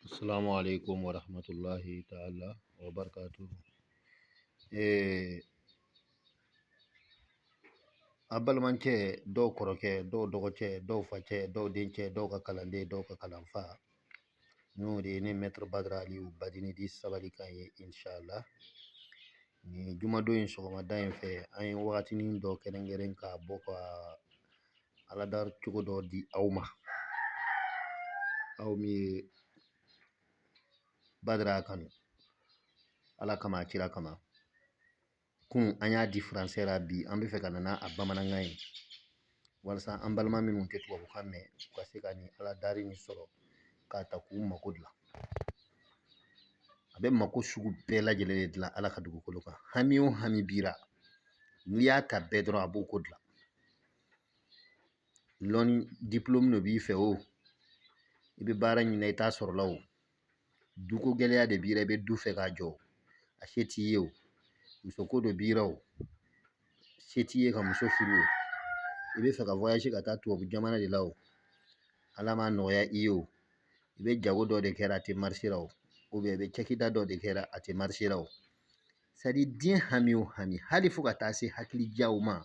Assalamu alaikum wa rahmatullahi ta'ala wa barakatuhu. Eh, a balimacɛ dɔw kɔrɔkɛ dɔw dɔgɔcɛ dɔw facɛ dɔw dencɛ dɔw ka kalanden dɔw ka kalanfa n'o de ye ne maître badara aliyu badini dit sabali kan ye inshallah nin jumadon in sɔgɔmada in fɛ an ye wagatinin dɔ kɛrɛnkɛrɛn k'a bɔ ka aladari cogo dɔ di aw ma aw min ye badara kanu ala kama a kira kama kunun an y'a di français la bi an bɛ fɛ ka na n'a bamanankan ye walasa an balima minnu tɛ tubabukan mɛn u ka se ka nin aladari nin sɔrɔ k'a ta k'u mako dilan a bɛ mako sugu bɛɛ lajɛlen de dilan ala ka dugukolo kan hami o hami b'i ra n'i y'a ta bɛɛ dɔrɔn a b'o ko dilan lɔnni diplôme de b'i fɛ o i bɛ baara ɲini na i t'a sɔrɔ la o duko gɛlɛya de b'i la i bɛ du fɛ k'a jɔ a se t'i ye o muso ko de b'i la o se t'i ye ka muso furu o i bɛ fɛ ka voyage ka taa tubabu jamana de la o ala m'a nɔgɔya i ye o i bɛ jago dɔ de kɛra a tɛ marché la o i bɛ cakɛda dɔ de kɛra a tɛ marché la o c'est à dire diɲɛ hami o hami hali fo ka taa se hakili jaw ma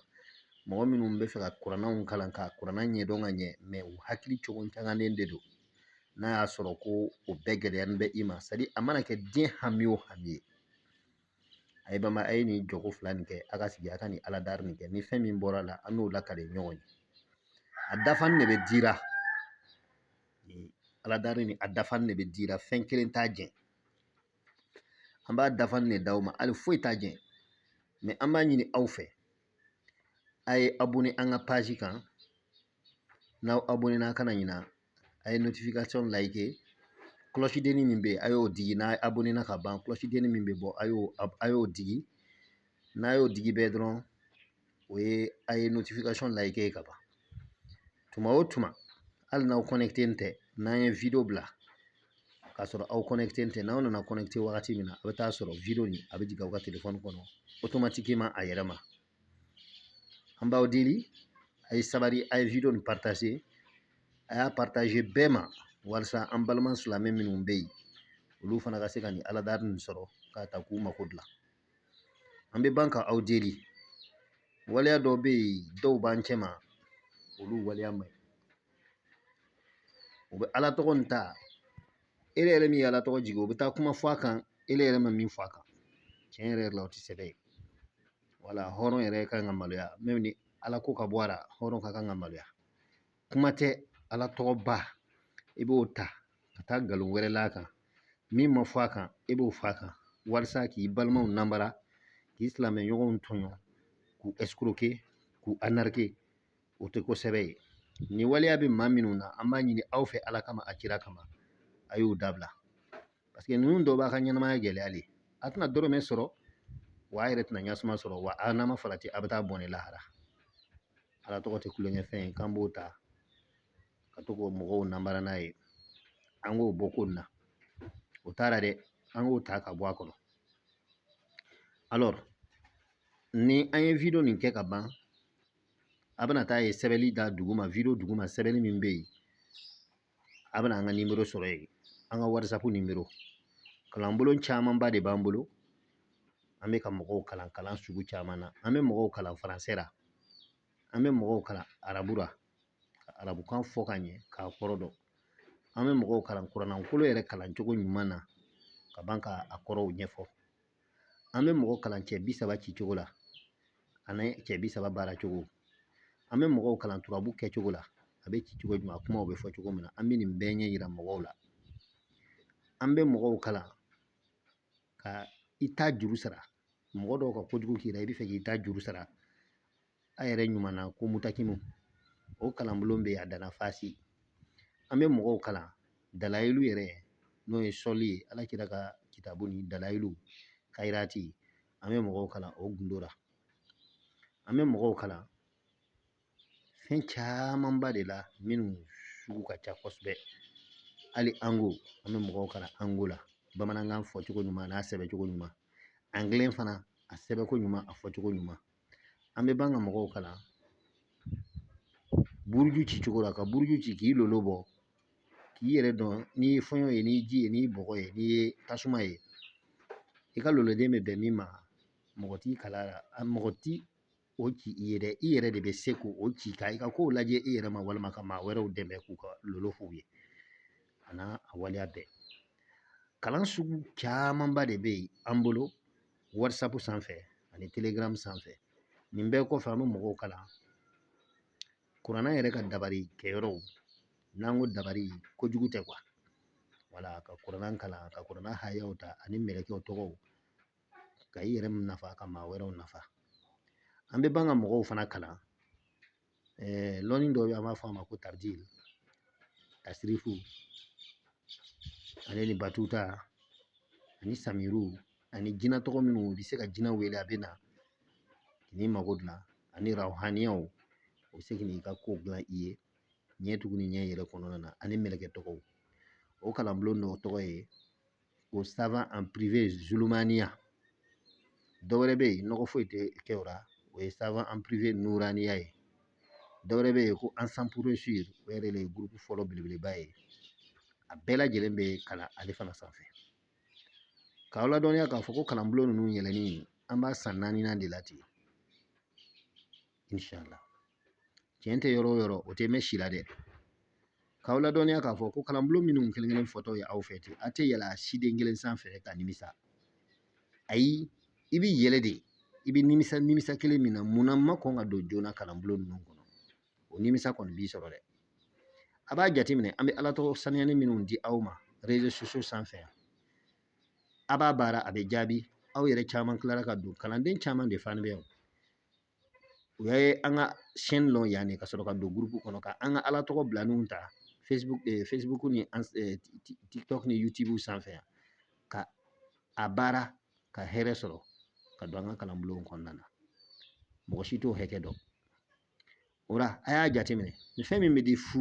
mɔgɔ minnu bɛ fɛ ka kurannaw kalan ka kuranna ɲɛdɔn ka ɲɛ mais u hakili cogo tanganen de don n'a y'a sɔrɔ ko o bɛɛ gɛlɛyalen bɛ i ma c'est à dire a mana kɛ diɲɛ hami o hami ye a ye bama a ye nin jɔko fila nin kɛ a ka sigi a ka nin aladari nin kɛ ni fɛn min bɔra la an n'o lakale ɲɔgɔn ye a dafanin de bɛ dira aladari nin a dafanin de bɛ dira fɛn kelen t'a jɛ An b'a dafanin de d'aw ma hali foyi t'a jɛ mais an b'a ɲini aw fɛ a ye abonné an ka page kan n'aw abonné na kana ɲina a ye notification like cloche denni min bɛ yen a y'o digi n'a abonné na ka ban cloche denni min bɛ bɔ a y'o a y'o digi n'a y'o digi bɛɛ dɔrɔn o ye a ye notification like ye ka ban tuma o tuma hali n'aw connecté ni tɛ n'an ye wideyo bila k'a sɔrɔ aw connecté ni tɛ n'aw nana connecté wagati min na a' bɛ t'a sɔrɔ wideyo nin a bɛ jigin aw ka telefɔni kɔnɔ automatiquement a yɛrɛ ma an b'aw deli a' ye sabari a' ye wideyo nin partager a y'a partager bɛɛ ma walasa an balima silamɛ minnu bɛ yen olu fana ka se ka nin aladari nin sɔrɔ k'a ta k'u mako dilan An bɛ ban ka aw deli waleya dɔ bɛ yen dɔw b'an cɛ ma olu waleya man ɲi u bɛ Ala tɔgɔ in ta ele yɛrɛ min ye Ala tɔgɔ jigin u bɛ taa kuma fɔ a kan ele yɛrɛ ma min fɔ a kan tiɲɛ yɛrɛ yɛrɛ la o tɛ sɛbɛ ye wala hɔrɔn yɛrɛ ka kan ka maloya même ni Ala ko ka bɔ a la hɔrɔn ka kan ka maloya. kuma tɛ ala tɔgɔ ba i b'o ta ka taa nkalon wɛrɛ la a kan min ma fɔ a kan i b'o fɔ a kan walasa k'i balimaw namara k'i silamɛ ɲɔgɔnw tɔɲɔ k'u escroquer k'u arnaquer o tɛ ko sɛbɛ ye nin waleya bɛ maa minnu na an b'a ɲini aw fɛ ala kama a kira kama a y'o dabila paseke ninnu dɔw b'a ka ɲɛnamaya gɛlɛya de a tɛna dɔrɔmɛ sɔrɔ wa a yɛrɛ tɛna ɲasuma sɔrɔ wa a n'a ma farati a bɛ taa bɔnɛ lahara Ala tɔgɔ tɛ tulonkɛfɛn ye k'an b'o ta ka to k'o mɔgɔw namara n'a ye an k'o bɔ ko nin na o taara dɛ an k'o ta ka bɔ a kɔnɔ alors ni an ye wideyo nin kɛ ka ban a bɛna taa ye sɛbɛnli da duguma wideyo duguma sɛbɛnni min bɛ yen a bɛna an ka nimoro sɔrɔ yen an ka whatsapp nimoro kalanbolo camanba de b'an bolo an bɛ ka mɔgɔw kalan kalan sugu caman na an bɛ mɔgɔw kalan faransɛ la an bɛ mɔgɔw kalan arabu la ka arabukan fɔ ka ɲɛ k'a kɔrɔ dɔn an bɛ mɔgɔw kalan kuranna kolo yɛrɛ kalancogo ɲuman na ka ban ka a kɔrɔw ɲɛfɔ an bɛ mɔgɔ kalan cɛ bi saba ci cogo la ani cɛ bi saba baara cogo an bɛ mɔgɔw kalan turabu kɛcogo la a bɛ ci cogo jumɛn a kumaw bɛ fɔ cogo min na an bɛ nin bɛɛ ɲɛ yira mɔgɔw la an bɛ mɔgɔw kalan ka i ta juru sara mɔgɔ dɔw ka kojugu k'i la i bɛ fɛ k'i ta juru sara a yɛrɛ ɲuman na ko mutakimu o kalanbolo bɛ yen a danna fasi an bɛ mɔgɔw kalan dalayilu yɛrɛ n'o ye sɔli ye ala kira ka kitabu ni dalayilu kayirati an bɛ mɔgɔw kalan o gundo la an bɛ mɔgɔw kalan fɛn camanba de la minnu sugu ka ca kosɛbɛ hali nko an bɛ mɔgɔw kalan nko la bamanankan fɔcogo ɲuman n'a sɛbɛncogo ɲuman angilɛ fana a sɛbɛnko ɲuman a fɔcogo ɲuman an bɛ ban ka mɔgɔw kalan buruju ci cogo la ka buruju ci k'i lolo bɔ k'i yɛrɛ dɔn n'i ye fɔɲɔ ye n'i ji ye n'i bɔgɔ ye n'i ye tasuma ye i ka loloden bɛ bɛn min ma mɔgɔ t'i kala la a mɔgɔ ti o ci i ye dɛ i yɛrɛ de bɛ se k'o ci ka i ka kow lajɛ i yɛrɛ ma walima ka maa wɛrɛw dɛmɛ k'u ka lolo f'u ye a n'a a waleya bɛɛ kalan sugu camanba de bɛ yen an bolo whatsapp sanfɛ ani telegram sanfɛ nin bɛɛ kɔfɛ an bɛ mɔgɔw kalan kuranna yɛrɛ ka dabali kɛyɔrɔw n'an ko dabali kojugu tɛ kuwa wala ka kuranna kalan ka kuranna hayaw ta ani mɛlɛkɛw tɔgɔw ka i yɛrɛ nafa ka maa wɛrɛw nafa an bɛ ban ka mɔgɔw fana kalan lɔnni dɔ bɛ yen an b'a fɔ a ma ko tabdil tasirifu ale ni batuta ani samiru ani jinɛ tɔgɔ minnu u bɛ se ka jinɛ wele a bɛ na k'i mago dilan ani rawhaniyaw u bɛ se k'i ka ko dilan i ye ɲɛ tugu ni ɲɛ yɛlɛ kɔnɔna na ani mɛlɛkɛ tɔgɔw o kalanbulon dɔ tɔgɔ ye o savant en privé zulumaniya dɔ wɛrɛ bɛ yen nɔgɔ foyi tɛ kɛ o la o ye savant en privé nuraniya ye dɔ wɛrɛ bɛ yen ko ensemble pour réussir o yɛrɛ de ye gurupu fɔlɔ belebeleba ye a bɛɛ lajɛlen bɛ kalan ale fana sanfɛ k'aw ladɔnniya k'a fɔ ko kalanbulon ninnu yɛlɛli an b'a san naaninan de la ten inshallah cɛn tɛ yɔrɔ o yɔrɔ o tɛ mɛn si la dɛ k'aw ladɔnniya k'a fɔ ko kalanbulon minnu kelen kelen fɔtɔ ye aw fɛ ten a tɛ yɛlɛ siden kelen sanfɛ ka nimisa ayi i bɛ yɛlɛ de i bɛ nimisa nimisa kelen min na munna ma kɔn ka don joona kalanbulon ninnu kɔnɔ o nimisa kɔni b'i sɔrɔ dɛ a b'a jateminɛ an bɛ ala tɔgɔ sanuyani minnu di aw ma réseaux sociaux sanfɛ yan a b'a baara a bɛ jaabi aw yɛrɛ caman tilara ka don kalanden caman de fana bɛ yan u ye an ka chaîne lɔn yan de ka sɔrɔ ka don gurupu kɔnɔ ka an ka ala tɔgɔ bilaninw ta facebook ni tiktok ni youtube sanfɛ yan ka a baara ka hɛrɛ sɔrɔ ka don an ka kalanbulon kɔnɔna na mɔgɔ si t'o hakɛ dɔn o la a y'a jateminɛ ni fɛn min bɛ di fu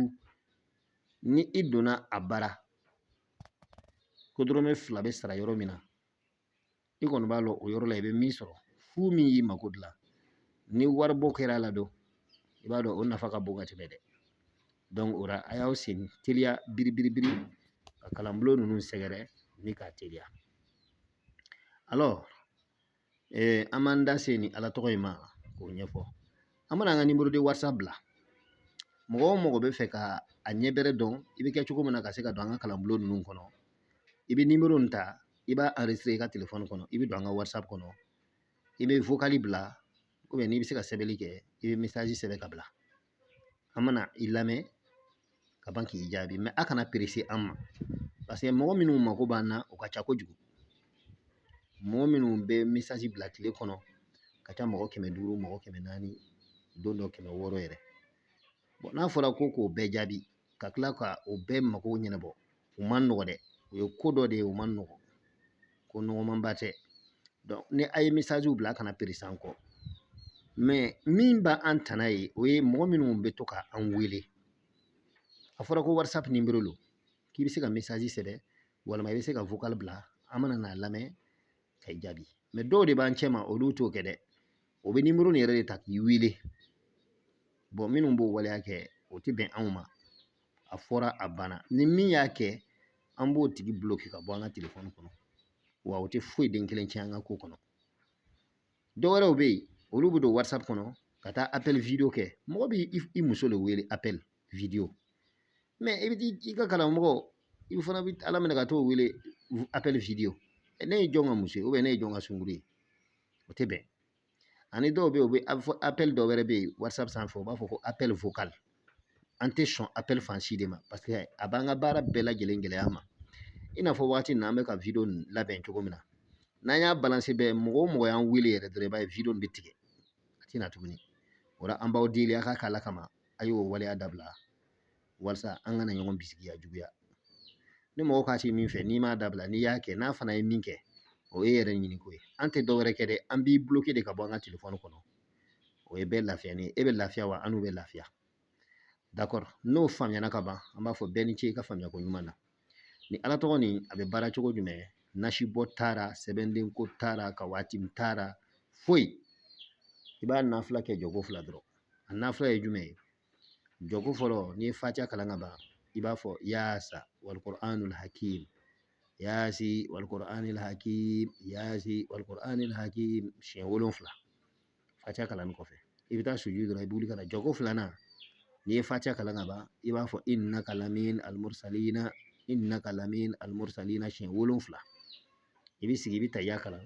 ni i donna a baara ko dɔrɔmɛ fila bɛ sara yɔrɔ min na i kɔni b'a lɔn o yɔrɔ la i bɛ min sɔrɔ fu min y'i mako dilan ni waribɔ kɛra a la don i b'a dɔn o nafa ka bon ka tɛmɛ dɛ donc o la a y'aw sen teliya biribiribiri ka kalanbulon ninnu sɛgɛrɛ ni k'a teliya alors eh, an b'an da se ni ala tɔgɔ in ma k'o ɲɛfɔ an mana an ka numéro de whatsapp bila mɔgɔ o mɔgɔ bɛ fɛ ka a ɲɛ bɛrɛ dɔn i bɛ kɛ cogo min na ka se ka don an ka kalanbulon ninnu kɔnɔ i bɛ nimoro in ta i b'a enregistrer i ka telefɔni kɔnɔ i bɛ don an ka whatsapp kɔnɔ i bɛ vocal bila n'i bɛ se ka sɛbɛnni kɛ i bɛ message sɛbɛn ka bila an mana i lamɛn ka ban k'i jaabi mais a kana perese an ma parce que mɔgɔ minnu mako b'an na o ka ca kojugu mɔgɔ minnu bɛ message bila tile kɔnɔ ka ca mɔgɔ kɛmɛ duuru mɔgɔ kɛmɛ naani don dɔ kɛmɛ wɔɔrɔ yɛrɛ n'a fɔra ko k'o bɛɛ jaabi ka tila ka o bɛɛ mago ɲɛnabɔ o man nɔgɔ dɛ o ye ko dɔ de ye o man nɔgɔ ko nɔgɔmanba tɛ ni a ye misaziw bila a kana perese an kɔ mɛ min b'an tana ye o ye mɔgɔ minnu bɛ to ka an wele a fɔra ko whatsapp nimero don k'i bɛ se ka misazi sɛbɛn walima i bɛ se ka vocal bila an mana n'a lamɛn ka i jaabi mɛ dɔw de b'an cɛma olu t'o kɛ dɛ o bɛ nimero nin yɛrɛ de ta k'i wele bɔn minnu b'o waleya kɛ o tɛ bɛn anw ma a fɔra a banna ni min y'a kɛ an b'o tigi bloke ka bɔ an ka telefɔni kɔnɔ wa o tɛ foyi den kelen tiɲɛ an ka ko kɔnɔ dɔwɛrɛw bɛ yen olu bɛ don whatsapp kɔnɔ ka taa appel video kɛ mɔgɔ bɛ i muso de wele appel video mɛ i bɛ i ka karamɔgɔ i fana bɛ ala minɛ ka t'o wele appel video ne ye jɔn ka muso ye ou bien ne ye jɔn ka sunguru ye o tɛ bɛn ani dɔw bɛ yen u bɛ apɛli dɔ wɛrɛ bɛ yen whatsapp sanfɛ u b'a fɔ ko apɛli vocal an tɛ sɔn apɛli fan si de ma paseke a b'an ka baara bɛɛ lajɛlen gɛlɛya ma i n'a fɔ waati min na an bɛ ka video nin labɛn cogo min na n'an y'a balanse bɛɛ mɔgɔ o mɔgɔ y'an wele yɛrɛ dɔrɔn i b'a ye video nin bɛ tigɛ a tɛ na tuguni o la an b'aw deli a k'a k'ala kama a y'o waleya dabila walasa an kana ɲɔgɔn bisigiya juguya ni mɔgɔ k'a tɛ min fɛ n'i m'a dabila n'i y'a kɛ n'a fana ye min kɛ o ye yɛrɛ ɲini ko ye an tɛ dɔwɛrɛ kɛ dɛ an b'i bloke de ka bɔ an ka telefɔni kɔnɔ o ye bɛɛ lafiya ni e bɛ lafiya wa annu bɛ lafiya dakɔrɔ n'o faamuyana ka ban an b'a fɔ bɛɛ ni ce i ka faamuyako ɲuman na ni ala tɔgɔ nin a bɛ baara cogo jumɛn nasibɔ t'a la sɛbɛndenko t'a la ka waati min t'a la foyi i b'a nafila kɛ jɔko fila dɔrɔn a nafila ye jumɛn ye jɔko fɔlɔ n'i ye fatiya kalan ka ban i b'a fɔ yaasa wal kuranul hakim yaasi wal kuranil hakim yaasi wal kuranil hakim siɲɛ wolonfila fatiya kalannen kɔfɛ i bɛ taa sujudu dɔrɔn i b'uli ka na jɔko filanan n'i ye fatiya kalan ka ban i b'a fɔ innaka laminal mursalina innaka laminal mursalina siɲɛ wolonfila i bɛ sigi i bɛ tahiya kalan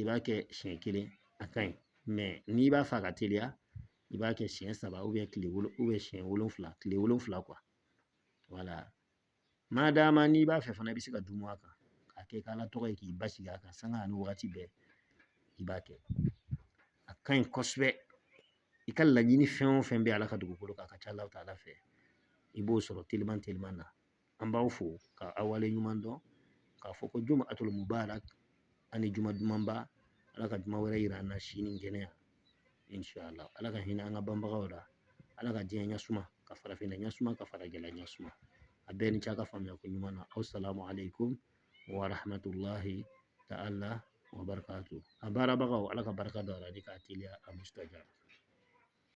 i b'a kɛ siɲɛ kelen a ka ɲi mɛ n'i b'a fɛ a ka teliya i b'a kɛ siɲɛ saba siɲɛ wolonfila tile wolonfila wala ma d'a ma n'i b'a fɛ fana i bɛ se ka duumu a kan k'a kɛ k'ala tɔgɔ ye k'i basigi a kan sanga ani wagati bɛɛ i b'a kɛ a ka ɲi kosɛbɛ i ka laɲini fɛn o fɛn bɛ ala ka dugukolo kan a ka ca ala taala fɛ i b'o sɔrɔ teliman teliman na an b'aw fo ka aw wale ɲuman dɔn k'a fɔ ko jumaatul mubarak ani juma dumanba ala ka juma wɛrɛ yira an na si ni kɛnɛya insala ala ka hinɛ an ka banbagaw la ala ka diɲɛ ɲɛsuma ka farafinna ɲɛsuma ka faragɛla ɲɛsuma a bɛɛ ni ce a ka faamuya ko ɲuman na asalamu aleykum warahamatulahi taala wa barakatu a baarabagaw ala ka barika don a la ni k'a teliya a mustajaba